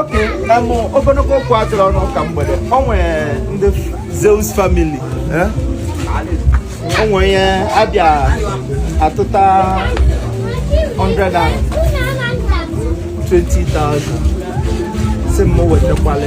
okay amụ ogologo okwu adịrọ n'ụka mgbede o nwere ndị Zeus family eh? o nwere ihe a bịa atụta 100 and 20,000 sị m wetakwala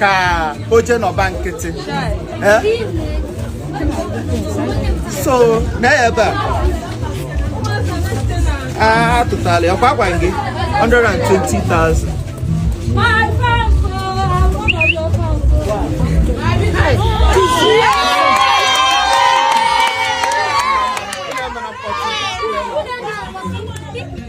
ka o je nọba nkịtị eh? so na ebe a ah, a tụtala ya ọ kwa agwaghị gị 120,000 Thank you.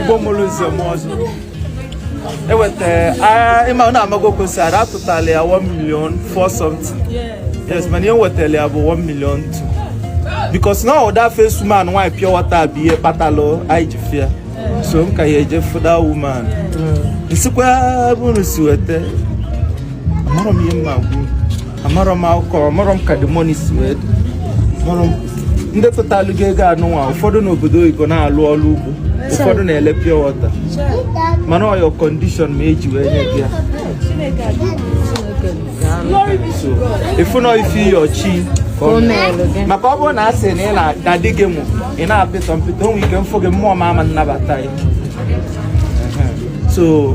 Igbo mụrụ nze mụọ ọzọ eweta ị ma na amago kwesịrị a tụtala ya 1 million 4 something yes mana ihe wetara ya bụ 1 million 2 because na ọ that first woman nwaanyị pure water bụ ihe kpatalụ anyị ji fịa so m ka ya-eje fụ that woman m sịkwa ebe unu si weta amarọ m ihe mma gwuru amarọ m akụkọ amarọ m ka the money si wee dị amarọ m ndị tụtalụ gị ego anụnwa ụfọdụ n'obodo oyibo na-alụ ọrụ ugbo ụfọdụ na-ele pure water mana ọ your condition me e ji wee nye gị ya so ị fụ na ọ ife ị yọ chi ka ọ mee. maka ọ bụrụ na a sị na ị na- na di gị mụ ị na-apịtọ mpịtọ o nwe ike m fụ gị mmụọ m ama anabata ya Ehe. so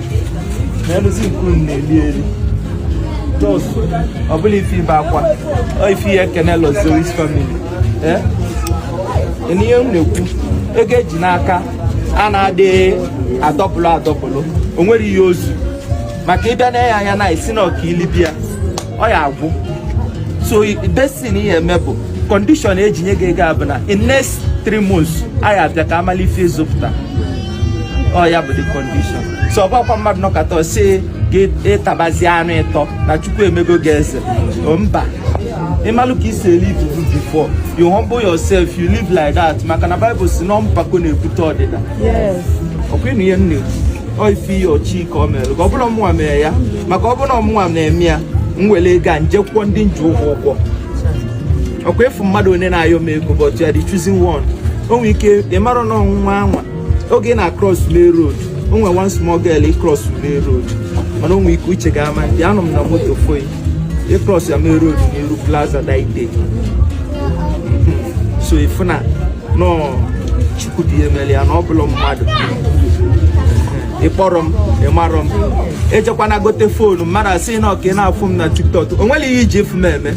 na-elụzi nke unu na-eli eli just ọ bụrọ ife ibe akwa ọ ife ị ya-ekenelụ Zeus family ee na ihe m na-ekwu ego e ji n'aka a na-adịghị adọpụlụ adọpụlụ o nwerọ ihe o zu maka ị bịa na-ele ya anya na-asị na ọ ka i libe ya ọ ya-agwụ so this thing ihe eme bụ condition e ji nye gị ego a bụ na in next 3 months anyị abịa ka a mala ife ị zụpụta ọ ya bụ the condition so ọ bụkwa mmadụ nọkata ọ sị gị ị tabazi anụ ị tọ na Chukwu emego gị eze O, mba ị malụ ka i si e-live before you humble yourself you live like that maka na Bible sị na mpako na-ebute ọdịda ọ kwa ị nụ ihe nne ọ ife ị yọ chi ka ọ meere gị ọ bụrọ mụnwa mere ya maka ọ bụrụ na ọ mụnwa na-eme ya m were ego a m je kwụọ ndị m ji ụgwọ ụgwọ ọkwa ị fụ mmadụ onye na-ayọ m ego but you are the chosen one o nwere ike ị marọ na ọnwụnwa anwa oge ị na-across main road o nwere one small girl ị cross main road mana o nwere ike uche gị ama adị anọ m na moto fụ gị ị cross ya main road n'iru plaza that day so ị fụna na chukwu dị emeli ya na ọ bụla mmadụ ị kpọrọ m ị marọ m ejekwana gote foonu mmadụ asị na ọ ka ị na-afụ m na tiktok o nwere ihe iji efu m eme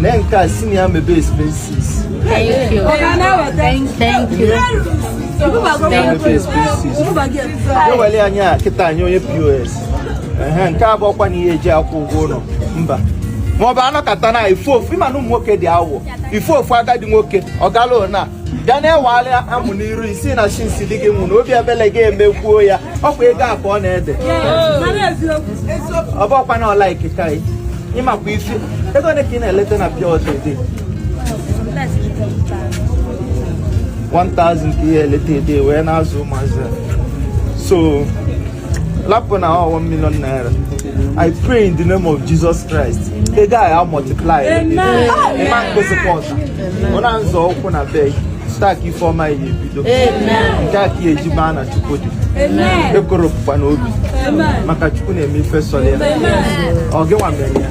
Mee nke a si na ya mebe expenses. Thank you. Thank you. Mebe expenses. Ewele nya kịta nye onye POS. Ehe, nke a abụkwana ihe eji akwụ ụgwọ ụlọ. Mba. Ma ọ bụ anọkata na ị fụ ofu ị ma na ụmụ nwoke dị awọ. Ị fụ ofu agadi nwoke ọ gala na bịa na-ewegharị amụ n'iru ị sị na chi nsi dị gị nwụ na obi ebele ga emekwuo ya ọkwa ego a ka ọ na-ede ọ bụkwa na like ka ị makwa ife ego ole ka ị na-eleta na pure water a day 1000 ka ị eleta a day wee na-azụ ụmụazị so lapụ na one million naira i pray in the name of jesus christ ego a ya multiply ma mkpesịkwa ọta ọ na nzọ ụkwụ na be gị site ka ife ọma ya ebido nke a ka ị ya eji maa na chukwu dị ekworo pụkwa n'obi maka chukwu na-eme ife sọrọ ya ọ gịnwa mere ya